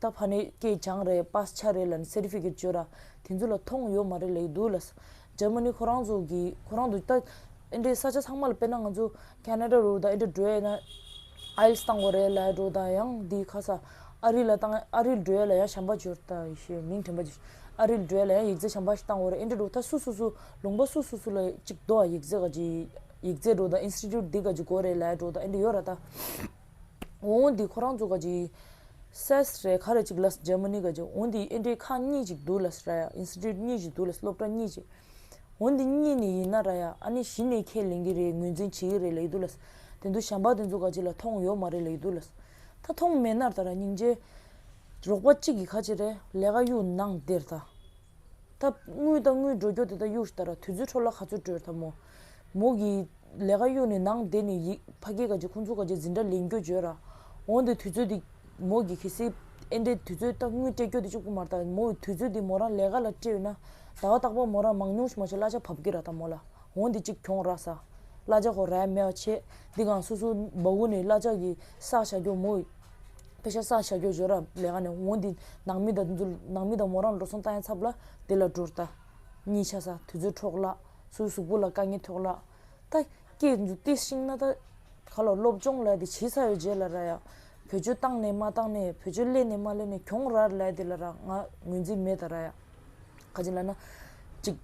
[SPEAKER 1] ད་ཕ་ནི་སྐྱེས་སྦྱངས་རེད་སྤར་ཆ་རེད་ལན Certificate བཅོས་ར་དེ་ཚོ་ལ་མཐོང་ཡོད་མ་རེད་ལེགས་འདུག་ལ། Germany ཁོ་རང་ཚོ་གི་ཁོ་རང་ཚོ་ད་ཨེ་འདྲའི་ས་ཆ་ཚང་མ་ལ་དཔེར་ན་ང་ཚོ Canada རུ་ད་ཨེ་འདྲ་བྲོས་ན IELTS བཏང་གོ་རེད་ལ་འགྲོ་དང་ཡང་འདི་ཁ་ས་ཨ་རི་ལ་བཏང་ཨ་རིར་བྲོས་ལ་ཡང་བྱམས་པ་འབྱོར་ད་ཞེས་མིང་དྲན་པ་ཅིག་ཨ་རིར་བྲོས་ལ་ཡང་ཡིག་རྩལ་བྱམས་པ་ཞིག་བཏང་གོ་རེད་ཨེ་འདྲ་འགྲོ་ད་སུ་སུ་སུ་ལུང་པ་སུ་སུ་སུ་ལ་ཅིག་འགྲོ་ཨ་ཡིག་རྩལ་ག་ཅིག་ཡིག་རྩལ་འགྲོ་ད Institute འདི་ག་ཅིག་གོ་རེད་ལ་འགྲོ་ད་ཨེ་འདྲ་ཡོད་ར་ད། འོང་འདི་ཁོ་རང་ཚོ་ག་གི་སས་རེད་ག་རེད་ཅིག་ལ Germany ག་གི་འོང་འདི་ཨེ་འདྲའི་ཁག་གཉིས་ཅིག་འདུག་ལ་ར་ཡ Institute གཉིས་ཅིག་འདུག་ལ་སློབ་གྲྭ་གཉིས་ཅིག་འོང་འདི་གཉིས་ནས་ཡིན་ན་ར་ཡ་ཨ་ནི་གཞི་ནས་ཁས་ལེན་གི་རེད་ངོས་འཛིན་བྱེད་ཀྱི་རེད་ལ་ཡི་འདུག་ལ་དེ་འདུག་ཞམ་པ་དེ་ཚོ་ག་གི་ལ་མཐོང་ཡོད་མ་རེད་ལ་ཡི་འདུག་ལ་ད་མཐོང་མེད་ན་ར་ཡ་སྙིང་རྗེ་རོགས་པ་གཅིག་གི་ག་གི་རེད་ལས་ཀ་གཡུག་ནང་དེར་ད། ཐབས། དངུལ་དང་དངུལ་འགྲོ་སྐྱོར་དེ་དག་གཡུགས་ཤྟར་དུས་ཚོད་འཕྲོ་བརླག་ག་ཚོད་སྤྲོད་ཐབས་མོ། མོ་གི། ལས་ཀ་གཡུགས་ནས་ནང་བསྡད་ནས་ཡིག། ཕ་སྐད་ག་ཅིག་ཁོང་ཚོ་ག་ཅིག་འཛིན་གྲྭ་ལེན་རྒྱུ་བརྗོད་ར། འོང་དེ་དུས་ཚོད་དེ། མོ་གི་གལ་སྲིད། ཨེ་འདྲའི་དུས་ཚོད་ལྟ་དངུལ་སྤྲད་སྐྱོར་དེ་གཅིག་པུ་མ་རྟ་མོ་དུས་ཚོད་དེ་མོ་རང་ལས་ཀ་ལ་སྤྲད་ཡོད་ན། ཟླ་བ་རྟག་པར་མོ་རང་མང་ཉུང་ཞིག་མ་བྱས་གླ་ཆ་བབ་ཀྱི་ར་ད་མོ་ལ། འོང་དེ་གཅིག་གྱོང་ར་ས། གླ་ཆ་ཁོ་རའི་མེ་བ་ཆད། འདི་གང་སོ་སོ། སྦ་བོ་ནས་གླ་ཆ་གི་ས་བྱ་སྐྱོར་མོ། དཔེ་ཆ་སང་ཞྭ་སྐྱོགས་སྦྱོར་ར་ལས་ཀ་ནས་འོང་འདི་ནང་མི་དང་འཛུལ་ནང་མི་དང་མོ་རང་འགྲོ་སོང་ལྟ་ཡང་ཚབ་ལ་འདི་ལ་འགྲོར་ལྟ། གཉིས་ཆ་ས་དུས་ཚོད་འཕྲོག་ལགས་སུ་གཟུགས་པོ་ལ་དཀའ་ངལ་ཐོག་ལགས། ད་སྐྱེས་འཛུགས་བསྟི་ཤིང་ན་ད་ག་ལ་སློབ་སྦྱོང་ལ་དེ་བྱིས་ས་ཡོད་རྗེས་ལ་ར་ཡ། བོད་ཆོལ་བཏང་ནས་མ་བཏང་ནས་བོད་ཆོལ་གླས་ནས་མ་གླས་ནས་གྱོང་ར་ལས་དེ་ལ་ར་ང་ངོས་འཛིན་མེད་ད་ར་ཡ། ཁ་ཅིག་ལ་ན། ཅིག།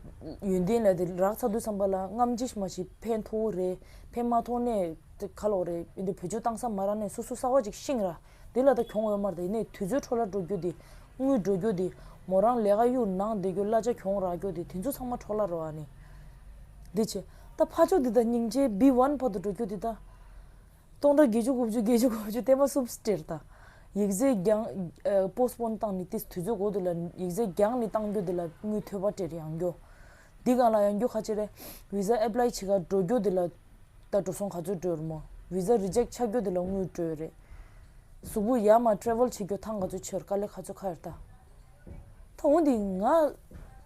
[SPEAKER 1] ཡོན་ཏན་ལས་དེ་རག་ཚ་དུས་ཚངས་པ་ལ་རྔམ་ཅི་མ་ཞིག་ཕན་མཐོ་བོ་རེད་ཕན་མ་མཐོ་ནས་ཏེ་ཁ་ལོག་རེད་ཡིན་དུས་བུ་ཆུ་བཏང་ས་མ་རག་ནས་སོ་སོ་སྲ་བ་ཅིག་ཤིང་ར་དེ་ལ་ད་གྱོང་འོད་དམར་དེ་ནས་དུས་ཚོད་འཕྲོ་ལ་འགྲོ་རྒྱུ་དེ་དངུལ་འགྲོ་རྒྱུ་དེ་མོ་རང་ལས་ཀ་གཡུག་ནང་བསྡད་རྒྱུ་གླ་ཆ་གྱོང་རག་རྒྱུ་དེ་དེ་ཚོ་ཚང་མ་འཕྲོ་ལ་རོ་ཨ་ནི། འདི་བྱས། ད་ཕ་ཆོ་འདི་ད་སྙིང་རྗེའི་བི་བྷན་བར་དུ་འགྲོ་རྒྱུ་དེ་ད། སྟོང་དང་བརྒྱད་ཅུ་དགུ་བཅུ་བརྒྱད་ཅུ་གོ་བཅུ་བརྟན་པོ་སུབ་སྤྲེལ་དང། ཡིག་རྫས་རྒྱང། Postpone། བཏང་ནས་དེ་དུས་ཚོད་གོ་དེ་ལ་ཡིག་རྫས་རྒྱང་ནས་བཏང་རྒྱུ་དེ་ལ་དངུལ་ཐོལ་བ་སྤྲེལ་ཡང་རྒྱོ། འདི་གང་ལ་ཡང་རྒྱུ་ཁ་ཆེ་རེད། Visa Apply བྱེད་ཁར་འགྲོ་རྒྱུ་དེ་ལ། ད་འགྲོ་སོང་ག་ཚོད་སྤྲོད་རུང། Visa Reject ཆགས་རྒྱུ་དེ་ལ་དངུལ་སྤྲོད་རེད། གཟུགས་པོ་ཡར་མར Travel བྱེད་རྒྱུ་ཐང་ག་ཚོད་ཆོད་དཀའ་ལས་ག་ཚོད་ཁ་རེད་ད། ད་འོན་ཏེ་ང་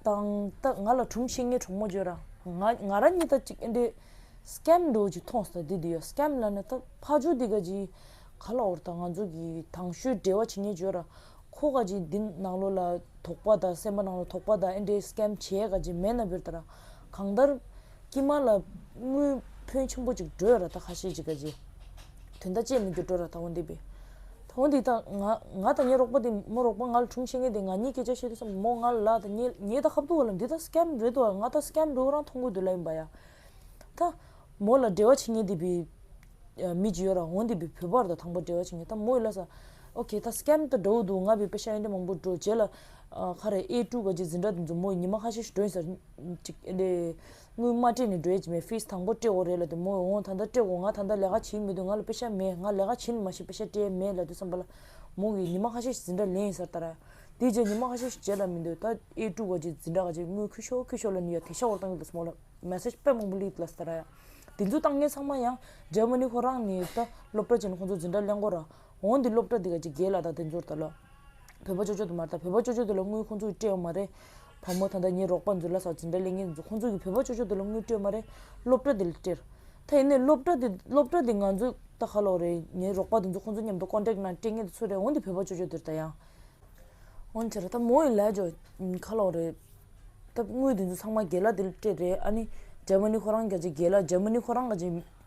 [SPEAKER 1] དང་ད་ང་ལ་གྲུམ་ཤིང་ངའི་གྲོགས་མོ་བརྗོད་ར་ང་ང་རང་གཉིས་ད་ཅིག་ཨེ་འདྲེ Scam འགྲོ་ཅིག་མཐོང་སོང་དེ་དེ་ཡོད Scam ལ་ནི་ད་ཕ་ཇོ་དེ་ག་ཅིག་ག་ལ་འོར་ད་ང་ཚོ་གི་དང་ཤུལ་འབྲེལ་བ་བྱེད་ངེས་བརྗོད་ར་ཁོ་ག་ཅིག་འདི་ནང་ལོ་ལ་དོག་པ་ད་སེམས་པ་ནང་ལོ་དོག་པ་ད་ཨེ་འདྲེ Scam བྱེད་ག་ཅིག་མེད་ན་བརྗོད་ད་ར་གང་ལྟར། ཀྱེ་མ་ལ། དངུལ། ཕོན་ཆེན་པོ་ཅིག་སྒྲོལ་ར་ད་ག་ཤེད་ཅིག་ག་ཅི། དོན་ལྟ་ཅད་མི་འགྱུར་སྒྲོལ་ར་ད་འོ་འདི་པས། ད་འོ་འདི་ད། ང། ང་ད་ངའི་རོགས་པ་འདི་མོ་རོགས་པ་ང་ལ་དྲུང་བཤད་མཁན་དེ་ང་གཉིས་སྐད་ཆ་བཤད་དུས་སམ་མོ་ང་ལ་ལ་ད་ངའི་ངའི་ད་ཧབ་ཏུ་བ་ལ་འདི་ད Scam རེད་དོ་ཨ་ང་ད Scam རེད་འོ་རང་མཐོང་གོ་འདོད་ལ་ཡིན་པ་ཡ། ད། མོ་ལ་འབྲེལ་བ་བྱེད་མཁན་འདི་པི། མི་ཅི་ཡོད་ར་འོ་འདི་པི་བོད་པར་ད་དང་པོ་འབྲེལ་བ་བྱེད་མཁན་ད་མོ་ཡི་ལ་ས། Okay ད Scam ད་འདྲ་བོ་འདུག་ང་བི་པ་ཤ་ཡན་དྲ་མང་པོ་འགྲོ་བྱེད་ལ། ཨ་ཁ་རེ་ཨེ་ཀྲུག་ག་ཅི་འཛིན་གྲ་འདི་འཛོམས་མོ་ཡི་ཉི་མ་ཁ་ཤས་ཤིག་འགྲོ་ཡིན་ས་རེད། དངུལ་མ་སྤྲད་ནས་འགྲོའི་མེ་ཕིས་དང་པོ་སྤྲད་འོ་རེད་ལ་དེ་མོ་འོང་ད་ལྟ་སྤྲད་འོ་ང་ད་ལྟ་ལས་ཀ་བྱེད་མི་འདུག་ང་ལ་དཔེ་ཆ་མེད་ང་ལས་ཀ་བྱེད་ནི་མ་ཤེས་དཔེ་ཆ་སྤྲད་མེད་ལ་དུ་བསམ་པ་ལ་མོ་གིས་ཉི་མ་ཁ་ཤས་ཟིན་གྲྭ་ལེན་ཡིན་ས་ལྟར་ཨ་དེའི་རྗེས་ཉི་མ་ཁ་ཤས་ཤིག་བྱེད་ལ་མི་འདུག་ད་ཨེ་དཀྲུག་ག་ཅིག་ཟིན་གྲྭ་ག་ཅིག་དངུལ་ཁུ་ཤོ་ཁུ་ཤོ་ལ་ནི་ཡ་དེ་ཤ་བོར་བཏང་གི་འདུག་མོ་ལ message དཔེ་མང་པོ་ལིས་འདུག་ལ་ས་ལྟར་ཨ་དེ་ཚོ་བཏང་མཁན་ཚང་མ་ཡང Germany ཁོ་རང་ནི་ད་སློབ་གྲྭ་ཅན་ཁོང་ཚོ་ཟིན་གྲྭ་ལེན་སྐོར་ར་འོ་འདི་སློབ་གྲྭ་འདི་ག་ཅིག་རྒྱལ་ལ་དང་དེ་ཚོར་ད་ལོ། བོད་པ་ཅོ་ཅོ་དུ་མར་ད་བོད་པ་ཅོ་ཅོ་དེ་ལ་དངུལ་ཁོང་ཚོ་གིས་སྤྲད་ཡོང་མ་རེད། བ་མོ་ད་ལྟ་ངའི་རོགས་པ་མཛོད་ལ་སོགས་ཇི་འདྲ་ལས་ངན་འདུག་ཁོང་ཚོ་གིས་བོད་པ་ཅོ་ཅོ་དེ་ལ་དངུལ་སྤྲད་མ་རེད། སློབ་གྲྭ་འདི་ལ་སྤྲད། ད་ཡིན་ནའི་སློབ་གྲྭ་འདི་སློབ་གྲྭ་འདི་ང་ཚོ་ད་ག་ལོག་རེད་ངའི་རོགས་པ་དེ་ཚོ་ཁོང་ཚོ་མཉམ་དུ་ཀོན་ཀྲེག་ནང་སྤྲད་ངེས་དེ་ཚོ་རེད་འོ་འདི་བོད་པ་ཅོ་ཅོ་དེར་ད་ཡང། འོན་ཆེ་ར་ད་མོ་ཡིན་ལ་ཇོ། ག་ལོག་རེད། ད་དངུལ་དེ་ཚོ་ཚང་མ་རྒྱལ་ལ་དེ་ལ་སྤྲད་རེད་ཨ་ནི། ཇར་མ་ནི་ཁོ་རང་རྒྱ་ཆེ་རྒྱལ་ལ་ཇར་མ་ནི་ཁོ་རང་ག་ཅིག།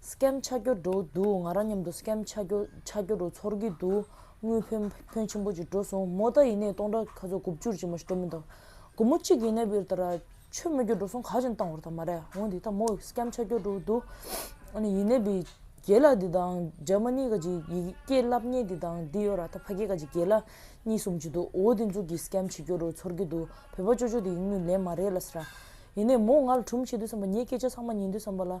[SPEAKER 1] Scam ཆགས་རྒྱུ་འགྲོ་འདུག་ང་རང་མཉམ་དུ Scam ཆགས་རྒྱུ་ཆགས་རྒྱུ་རུ་ཚོར་གྱི་འདུག་དངུལ་ཕོན་ཕོན་ཆེན་པོ་ཅིག་འགྲོ་སོང་མོ་ད་ཡིན་ནའི་སྟོང་ཕྲག་ག་ཚོད་དགུ་བཅུར་ཅིག་མ་ཞིག་འགྲོ་མི་འདུག་དགུ་མོ་གཅིག་ཡིན་ནའི་བིར་ད་ར་ཆོས་སྨོད་རྒྱུ་འགྲོ་སོང་ག་ཅིག་བཏང་བར་ད་མ་རེད་འོན་འདི་ད་མོ Scam ཆགས་རྒྱུ་འགྲོ་འདུག་ཨ་ནི་ཡིན་ནའི་བིར་རྒྱལ་ལགས་འདི་དང་འཇར་མ་ནི་ག་ཅིག་ཡི་གེ་བསླབ་ཉེས་འདི་དང་འདི་ཡོད་ར་ད་ཕ་སྐད་ག་ཅིག་རྒྱལ་ལགས་གཉིས་གསུམ་ཅིག་འདུག་འོ་འདི་འཛུགས་ཀྱིས Scam བྱེད་རྒྱུ་རུ་ཚོར་གྱི་འདུག་བོད་པ་ཅོ་ཅོ་འདི་ཡིན་ནུས་ལན་མ་རེད་ལ་ཟེར་ར་ཡིན་ནའི་མོ་ང་ལ་དྲུམ་བྱེད་དུས་བསམ་པ་ངས་སྐད་ཆ་ཚང་མ་ཉན་དུས་བསམ་པ་ལ།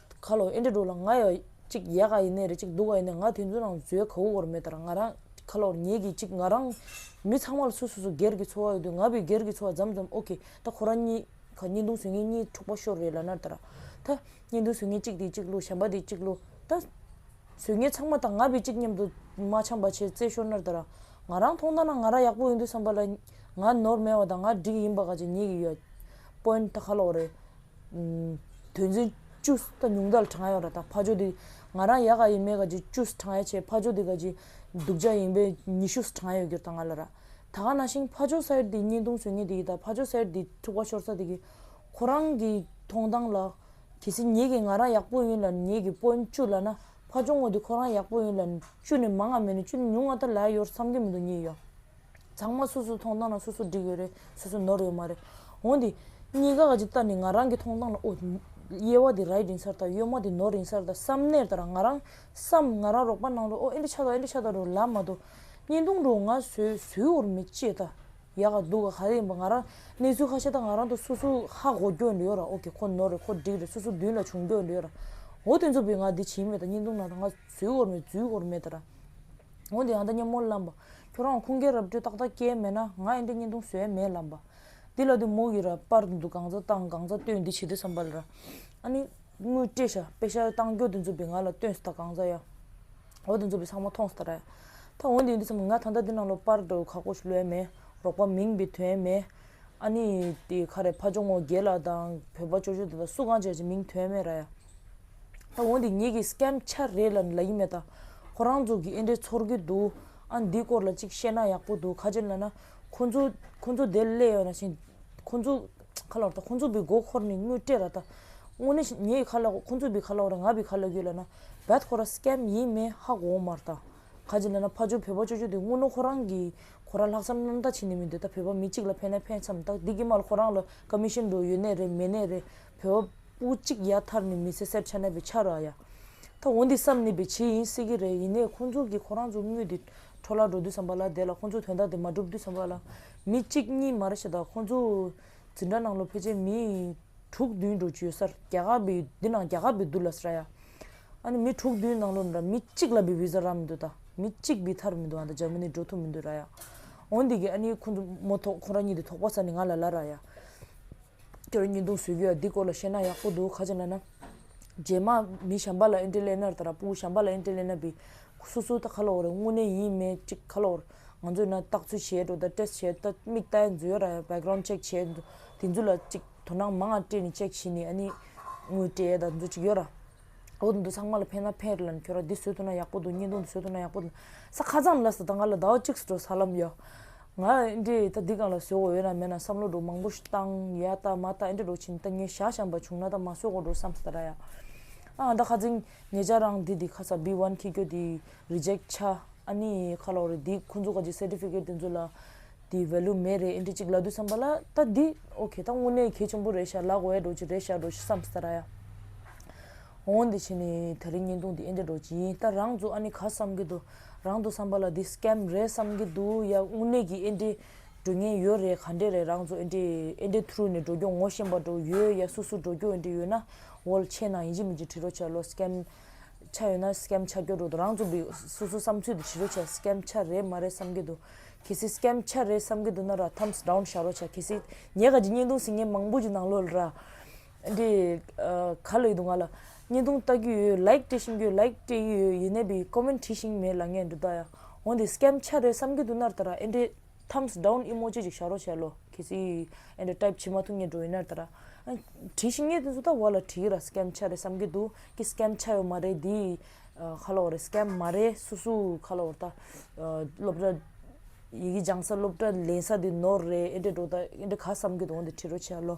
[SPEAKER 1] ཁ་ལོ་ཨེ་འདྲ་འགྲོ་ལ་ང་ཡ་གཅིག་ཡ་ག་ཡི་ནས་རེ་གཅིག་འདུག་ག་ཡི་ནས་ང་དེ་ཚོའི་ནང་བཟོའི་ག་བུ་བོར་མེད་དར་ང་རང་ཁ་ལོར་ཉལ་གི་གཅིག་ང་རང་མི་ཚང་མ་ལ་སུ་སུ་སུ་སྒེར་གི་འཚོ་བ་ཡོད་དུས་ང་བི་སྒེར་གི་འཚོ་བ་འཇམ་འཇམ་ཨོ་ཁེ་ད་ཁོ་རང་གཉིས་ག་གཉིས་འདུག་ཟོས་ངན་གཉིས་འཁྲུག་པ་ཤོར་རེད་ལ་ནར་དར་ད་གཉིས་འདུག་ཟོས་ངན་གཅིག་དེ་གཅིག་བླུ་བྱམས་པ་དེ་གཅིག་བླུ་ད་ཟོས་ངན་ཚང་མ་ད་ང་བི་གཅིག་མཉམ་དུ་མ་བྱམས་པ་བྱས་རྩེ་ཤོར་ནར་དར་ང་རང་ཐོང་ད་ན་ང་རང་ཡག་པོ་ཡོད་འདུག་བསམ་པ་ལ་ང་ནོར་མེད་བ་ད་ང་འགྲིག་ཡིན་པ་ག་ཅིག་ཉེས་ཀི་ཡོད་པོན་ད་ཁ་ལོ་རེད་དོན་ཚན་བཅུ། ད་ཉུང་མཐའ་ལ་གྲང་ཡ་ར་དང་ཕ་ཇོ་དེ། ང་རང་ཡ་ག་ཡིན་མེད་ག་ཇི་བཅུ་ས་གྲང་ཡ་ཆེ་ཕ་ཇོ་དེ་ག་ཇི། སྡུག་ཅག་ཡིན་པས་ཉི་ཤུ་ས་གྲང་ཡ་ཡོད་རྒྱུར་ད་ང་ལ་ར། ད་ག་ན་ཤིང་ཕ་ཇོ་ས་ཡར་དེའི་བརྙན་ཐུང་བཟོས་ངེས་དེ་ཡིན་ད་ཕ་ཇོ་ས་ཡར་དེའི་ཐུག་པ་ཤོར་ས་དེ་གི། ཁོ་རང་གི་མཐོང་སྟངས་ལ། གལ་སྲིད་ཉེས་ཀྱིས་ང་རང་ཡག་པོ་ཡིན་ལ་ཉེས་ཀྱིས་པོན་བཅུ་ལ་ན་ཕ་ཇོ་ངོ་དེ་ཁོ་རང་ཡག་པོ་ཡིན་ལ་བཅུ་ནས་མང་ང་མེད་ནས་བཅུ་ནས་ཉུང་ང་ད་ལ་ཡོར་བསམ་གྱི་མི་འདུག་ཉེས་ཡོ། ཚང་མ་སོ་སོའི་ཐོང་ཐང་ལ་སོ་སོ་འགྲིག་ཡོད་རེད་སོ་སོ་ནོར་ཡོད་མ་རེད། འོན་ཏེ། གཉིས་ཀ་ག་ཅིག་བལྟ་ནས་ང་རང་གི་ཐོང་ཐང་ལ་ཨོ། གཡེལ་བ་འདི་རྭའི་རིན་སར་དང་གཡོལ་མ་འདི་ནོར་རིན་སར་དང་བསམ་ནས་ད་ར་ང་རང་བསམ་ང་རང་རོགས་པ་གནང་རོགས་ཨོ་ཨེ་འདྲ་ཆ་ད་ཨེ་འདྲ་ཆ་ད་རོགས་ལབ་མ་གཏོགས། བརྙན་ཐུང་འགྲོ་ང་ཟོས་ཟོས་བོར་མི་བྱེད་ད། ཡག་ག་སྡུག་ག་ག་རེ་ཡིན་པ་ང་རང་གནས་ཚུལ་ཧ་ཤ་ད་ང་རང་ད་སོ་སོའི་ཧ་གོ་སྐྱོ་འདི་ཡོད་ར་ཨོ་ཁེ་ཁོ་ནོར་རེད་ཁོ་འགྲིག་རེད་སོ་སོ་མདུན་ལ་བྱུང་འགྱོ་འདི་ཡོད་ར། འོ་དེ་ཚོ་བས་ང་འདི་བྱེད་མེད་ད་བརྙན་ཐུང་ནང་ད་ང་ཟོས་བོར་མེད་འཛུལ་བོར་མེད་ད་ར། འོན་ཏེ་ཡང་དག་སྙན་མོ་བླངས་པ། ཁྱོད་རང་ཁུངས་སྐྱེལ་རབ་བཀྲོལ་ཏག་ཏག་སྐྱེལ་མེད་ན་ང་ཨེ་འདྲ་སྙན་ཐུང་བཟོས་མེད་ལབ་པ། འདི་ལ་དུ་མོ་གིས་རབ་དཔར་དུ་འདུག་གང་ཚ་བཏང་གང་ཚ་བཏོན་འདི་བྱེད་དུས་སམ་པར་ར། ཨ་ནི། དངུལ་སྤྲད་ཤ་སྤེ་ཤ་བཏང་སྐྱོ་དུ་འཛུམ་པའི་ང་ལ་བཏོན་སི་ད་གང་ཚ་ཡ། འོ་དུ་འཛུམ་པའི་ཚང་མ་ཐོངས་སི་ད་ར་ཡ། ད་འོན་ཏེ་ཡིན་དུས་སམ་ང་ད་ལྟ་འདི་ནང་ལོག་པར་འགྲོ་ཁག་པོ་ཞིག་ལོས་མེད་རོགས་པ་མིང་བི་དོན་མེད། ཨ་ནི། ཁ་རེ་ཕ་ཇོ་ངོ་རྒྱལ་ལགས་དང་བོད་པ་ཅོ་ཅོ་དེ་དག་སུ་གང་བྱས་ཀྱི་མིང་དོན་མེད་ར་ཡ། ད་འོ་འདི་ཉིད་ཀྱི་སྐམ་ཆ་རེད་ལ་ལ་ཡིན་མེད་ད་ཁོ་རང་ཚོ་གི་ཨེ་འདྲས་ཚོར་གི་འདུག་ཨ་འདི་སྐོར་ལ་གཅིག་བཤད་ན་ཡག་པོ་འདུག་ཁ་ཅན་ལ་ན་ཁོ་ཚོ་ཁོ་ཚོ་དེ་སླད་ཡོད་ན་བཞིན་ཁོ་ཚོ་ཁ་ལ་བ་ད་ཁོ་ཚོ་བི་མགོ་ཁོར་ནི་དངུལ་སྤྲད་ར་ད་དངུལ་ནི་ཉེ་ཡི་ཁ་ལ་ཁོ་ཚོ་བི་ཁ་ལ་བ་ར་ང་བི་ཁ་ལ་ཡོད་ལ་ན་བད་ཁོ་ར་སྐམ་ཡིན་མེད་ཧ་གོ་མ་ར་ད་ཁ་ཅན་ལ་ན་ཕ་ཆོ་བོད་པ་ཆོ་ཆོ་དེ་དངུལ་ནོ་ཁོ་རང་གི་ཁོ་ར་ལྷག་བསམ་རྣམ་དག་བྱེད་ནི་མི་འདོད་ད་བོད་པ་མི་གཅིག་ལ་ཕན་ན་ཕན་ཚམ་ད་འདི་གི་མ་ལ་ཁོ་རང་ལ་ཀ་མི་ཤེས་འགྲོ་ཡོད་ནད་རེད་མེད་ནད་རེད། བོད་བ་པོ་གཅིག་ཡ་ཐར་ནི་མི་ཚེ་སེར་ཆ་གནས་པའི་ཆ་ར་ཡ། ད་འོ་འདི་བསམ་ནི་བའི་བྱེད་ཡིན་སྲིད་ཀྱི་རེད་ཡིན་ནས་ཁོང་ཚོ་གིས་ཁོ་རང་ཚོ་དངུལ་འདི་འཕྲོ་ལ་འགྲོ་དུས་བསམ་པ་ལ་དེ་ལ་ཁོང་ཚོ་དོན་དག་འདི་མ་འགྲུབ་དུས་བསམ་པ་ལ་མི་གཅིག་གཉིས་མ་རེད་ཤ་ད་ཁོང་ཚོ་འཛིན་གྲྭ་ནང་ལོ་ཕལ་ཆེར་མི་དྲུག་བདུན་འགྲོ་རྒྱུ་ཡོད་སར་རྒྱ་གར་བའི་འདི་ནང་རྒྱ་གར་བའི་འདུག་ལ་ས་ར་ཡ། ཨ་ནི་མི་དྲུག་བདུན་ནང་ལོ་འདྲ་མི་གཅིག་ལ་བའི་བི་ཟ་རག་མི་འདུག་ད་མི་གཅིག་བི་ཐར་མི་འདུག་ཨ་ད་འཇར་མ་ནི་འགྲོ་ཐུབ་མི་འདུག་ར་ཡ། འོ་འདི་གིས་ཨ་ནི་ཁོང་ཚོ་མོ་ཐོག་ཁོང་ར་གཉིས་འདི་ཐོག་པ་ས་ནི་ང་ལ་ལ་ར་ཡ། ཁྱོད་རང་གཉིས་འདུག་ཟོལ་གྱི་ཡ་འདི་སྐོར་ལ་བཤད་ན་ཡག་པོ་འདུག་ཁ་ཆེ་ན་ན། རྗེས་མ་མི་གཞན་པ་ལ་ཨེ་འདྲེ་ལེ་ནར་ད་ར་སྤུ་གུ་གཞན་པ་ལ་ཨེ་འདྲེ་ལེ་ན་བི། སུ་སུ་ད་ཁ་ལོ་བོ་རེད་དངོས་གནས་ཡིན་མེད་གཅིག་ཁ་ལོ་བོ་རེད་ང་ཚོས་ན་བརྟག་ཚུལ་བྱས་འགྲོ་ད་ཏྲེས་བྱས་ད་མིག་བལྟ་ཡ་འཛུལ་ཡ་ར་ཡ background check བྱས་འདུག་དེ་ཚོ་ལ་གཅིག་དོ་སྣང་མང་ཡ་ཏྲེས་ནས check བྱས་ནས་ཨ་ནི་དངོས་བལྟས་ཡ་ད་ཚོ་གཅིག་ཡོད་ར། འོ་ད་འདི་ཚང་མ་ལ་ཕན་ན་ཕན་རེད་ལ་ནི་ཁྱོད་རང་འདི་བཟོས་ཐུབ་ན་ཡག་པོ་འདུག་གཉིས་འདུག་འདི་བཟོས་ཐུབ་ན་ཡག་པོ་འདུག་ས་ཁ་ཙམ་ལ་ཟེར་ད་ང་ལ་ཟླ་བ་གཅིག་སུ་འགྲོ་ས་ལམ་ཡོད། ང་འདྲའི་ད་འདི་གང་ལ་ཟོས་འོ་ཡོད་ན་མེད་ན་བསམ་བློ་འགྲོ་མང་པོ་བཏང་ཡ་ད་མ་ད་འདྲའི་འགྲོ་ཕྱིན་ད་ངས་ཞག་བཤམས་པ་བྱུང་ན་ད་མ་ཟོས་འོ་འགྲོ་བསམ་ཟ་ར་ཡ། ཨ་ཨ་ད་ཁ་རྫིང་ངེད་ཅག་རང་འདི་འདི་ཁ་ཚ་བི་བྷན་ཁྱི་སྐྱོ་འདི Reject ཆ་ཨ་ནི་ཁ་ལོག་རེད་འདི་ཁོ་ཚོ་ག་ཅིག Certificate དེ་ཚོ་ལ་འདི Value མེད་རེད་འདྲའི་ཅིག་ལབ་དུས་བསམ་པ་ལ་ད་འདི Okay ད་དངོས་གནས་གལ་ཆེན་པོ་རེད་ཤག་ལག་འོད་འགྲོ་ཅིག་རེད་ཤག་འགྲོ་ཤག་བསམ་ཟ་ར་ཡ། འོང་འདི་བྱས་ནས་ད་རེས་བརྙན་ཐུང་འདི་ཨེ་འདྲ་འགྲོ་གྱིས་ད་རང་ཚོ་ཨ་ནི་ག་བསམ་གྱི་འདུག་རང་དུ་བསམ་པ་ལ་འདི Scam རེད་བསམ་གྱི་འདུག་ཡ་དངོས་གནས་ཀྱི་ཨེ་འདྲའི་འགྲོ་ཉེན་ཡོད་རེད་ག་འདྲས་རེད་རང་ཚོ་ཨེ་འདྲའི་ཨེ་འདྲའི Through ནས་འགྲོ་རྒྱུ་ངོ་ཤེས་པ་འགྲོ་ཡོད་ཡ་སུ་སུ་འགྲོ་རྒྱུ་ཨེ་འདྲའི་ཡོད་ན་འོལ་ཆས་ནང་ཡིན་གྱི་མིན་གྱི་དྲི་རོ་བྱ་ལོ Scam ཆ་ཡོད་ན Scam ཆ་སྐྱོ་འགྲོ་འདུག་རང་ཚོ་འདི་སུ་སུ་བསམ་ཚུལ་འདི་དྲི་རོ་བྱ Scam ཆ་རེད་མ་རེད་བསམ་གྱི་འདུག་གལ་སྲིད Scam ཆ་རེད་བསམ་གྱི་འདུག་ན་ར Thumbs down བྱ་རོ་བྱ་གལ་སྲིད་ཉེ་ག་གྱི་བརྙན་ཐུང་ཟིན་མཁན་མང་པོ་གྱི་ནང་ལོ་ར། འདི་ག་ལེགས་འདུག་ང་ལ་བརྙན་ཐུང་ལྟ་རྒྱུ་ཡོད་ལེགས་བཀྲིས་ཤིང་རྒྱུད་ལེགས་བཀྲིས་ཡོད་ཡིན་ནའི་བི comment བྲིས་ཤིང་མེད་ལ་ངས་འདི་ལྟ་ཡ་འོ་འདི་སྐྱམ་ཆ་རེད་བསམ་གི་འདུག་ནར་ད་ར་ཨེ་འདྲེ thumbs down emoji ཅིག་བཞག་རོགས་བྱས་ལོ་གལ་སྲིད་ཨེ་འདྲེ type བྱེད་མ་ཐུབ་ངས་འགྲོ་ཡི་ནར་ད་ར་བྲིས་ཤིང་ངས་འདི་ཚོ་ད་བར་ལ་བྲིས་ར་སྐྱམ་ཆ་རེད་བསམ་གི་འདུག་གི་སྐྱམ་ཆ་ཡོད་མ་རེད་འདི་ཁ་ལོ་རེད་སྐྱམ་མ་རེད་སུ་སུ་ཁ་ལོ་ད་སློབ་གྲྭ་ཡི་གེ་སྦྱང་ས་སློབ་གྲྭ་ལེན་ས་འདི་ནོར་རེད་ཨེ་འདྲེ་འགྲོ་ད་ཨེ་འདྲེ་ག་བསམ་གི་འདུག་འོ་འདི་བྲིས་རོགས་བྱས་ལོ།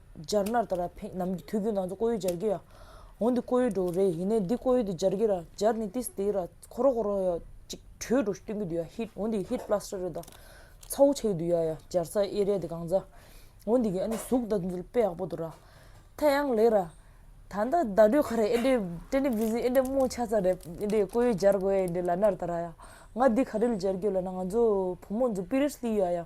[SPEAKER 1] སྦྱར་ནར་ད་ར་ཕེག་ནམ་གྱི་དུས་ཀྱི་ནང་ཚོ་ཀོ་ཡུལ་སྦྱར་གྱི་ཡ། འོ་འདི་ཀོ་ཡུལ་འགྲོ་རེད་ཡིན་ནའི་འདི་ཀོ་ཡུལ་དུ་སྦྱར་གྱི་ར་སྦྱར་ནི་ཏིས་ཏེའི་ར་ཁོ་རོ་ཁོ་རོ་ཡ། ཅིག་བྲོས་འགྲོ་སྟོན་གྱི་དུས་ཡ་ཧིད་འོ་འདི་ཧིད་པླ་སྟར་རེད་ད། ཚ་བོ་ཆེ་གི་དུས་ཡ་ཡ་སྦྱར་ཚ་ཨེ་རེད་འདི་གང་ཚ། འོ་འདི་གི་ཨ་ནི་གཟུགས་ད་འཛུལ་དཔེ་ཡག་པོ་འདུག་ར། ཐ་ཡང་ལེགས་ར། ད་ལྟ་ད་བྲོས་ཁ་རེ་ཨེ་འདྲའི་ཏྲེ་ནི་བི་ཟི་ཨེ་འདྲའི་རྨོངས་ཆ་ཚ་རེད་ཨེ་འདྲའི་ཀོ་ཡུལ་སྦྱར་དགོས་ཨེ་འདྲའི་ལ་ནར་ད་ར་ཡ། ང་འདི་ག་རེ་ལ་སྦྱར་གྱི་ལ་ན་ང་ཚོ་བུ་མོ་འཛུ་པི་རེར་སྟི་ཡ་ཡ།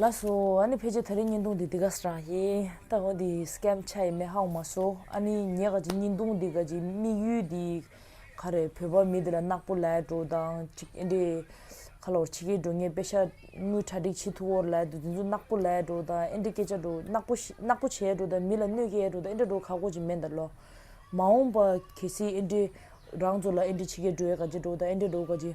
[SPEAKER 1] ལགས་སོ། ཨཱ་ནི་ཕལ་ཆེར་ད་རེས་བརྙན་ཐུང་འདི་འདི་ག་ས་རང་ཡིན། ད་ཧོ་འདི Scam ཆགས་ཡི་མེད་ཧ་གོ་མ་སོ། ཨཱ་ནི་ངས་ག་ཅིག་བརྙན་ཐུང་འདི་ག་ཅིག་དམིགས་ཡུལ་འདི་ག་རེད་བོད་པ་མི་འདི་ལ་ནག་པོ་ལས་འགྲོ་དང་ཅིག་ཨེ་འདྲེ། ཁ་ལོ་ཕྱི་རྒྱལ་འགྲོ་ངས་དཔེ་ཤ་དངུལ་གྲ་སྒྲིག་བྱེད་ཐུ་བོར་ལས་འདུག་དེ་ཚོ་ནག་པོ་ལས་འགྲོ་དང་ཨེ་འདྲེ་སྐད་ཆ་འགྲོ་ནག་པོ་ཤི་ནག་པོ་བྱས་འགྲོ་དང་མི་ལ་གནོད་སྐྱེལ་འགྲོ་དང་ཨེ་འདྲེ་འགྲོ་ཁག་གོ་ཅིག་མེད་འདའ་ལོ། མ་འོངས་པ་གལ་སྲིད་ཨེ་འདྲེ་རང་ཚོ་ལ་ཨེ་འདྲེ་ཕྱི་རྒྱལ་འགྲོ་ཡས་ག་ཅིག་འགྲོ་དང་ཨེ་འདྲེ་འགྲོ་ག་ཅིག།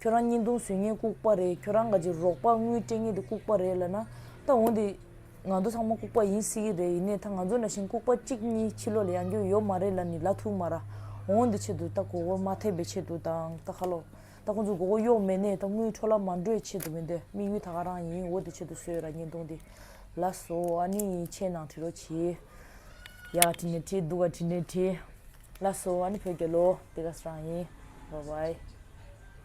[SPEAKER 1] ཁྱོད་རང་གཉིས་མདུང་སུས་ངེད་བཀུག་པ་རེད་ཁྱོད་རང་ག་ཅིག་རོགས་པ་དངུལ་སྤྲད་ངེད་དེ་བཀུག་པ་རེད་ལབ་ན་ད་འོང་དེ་ང་ཚོ་ཚང་མ་བཀུག་པ་ཡིན་སྲིད་ཀྱི་རེད་ཡིན་ནའི་ད་ང་ཚོ་ན་ཞིང་བཀུག་པ་གཅིག་གཉིས་ཕྱི་ལོ་ལ་ཡང་རྒྱུ་ཡོད་མ་རེད་ལ་ནི་ལ་ཐུག་མ་ར་འོང་དེ་ཆེད་དུ་ད་མགོ་བོ་མ་ཐེབས་པའི་ཆེད་དུ་དང་ད་ཁ་ལོ་ད་ཁོང་ཚོ་མགོ་བོ་གཡོག་མེད་ནའི་ད་དངུལ་འཕྲོ་ལ་མ་འགྲོའི་ཆེད་དུ་མི་འདོད་དམིགས་ཡུལ་ད་ག་རང་ཡིན་འོ་དེ་ཆེད་དུ་བཟོས་ར་ངེད་མདུང་དེ་ལ་བཟོ་ཨ་ནི་ཆེད་ནང་བྲི་རོ་བྱི་ཡ་ག་བྲི་ནས་བྲི་སྡུག་ག་བྲི་ནས་བྲི་ལ་བཟོ་ཨ་ནི་བོད་རྒྱལ་ལོ་དེ་ག་རང་ཡིན་བ་བའི།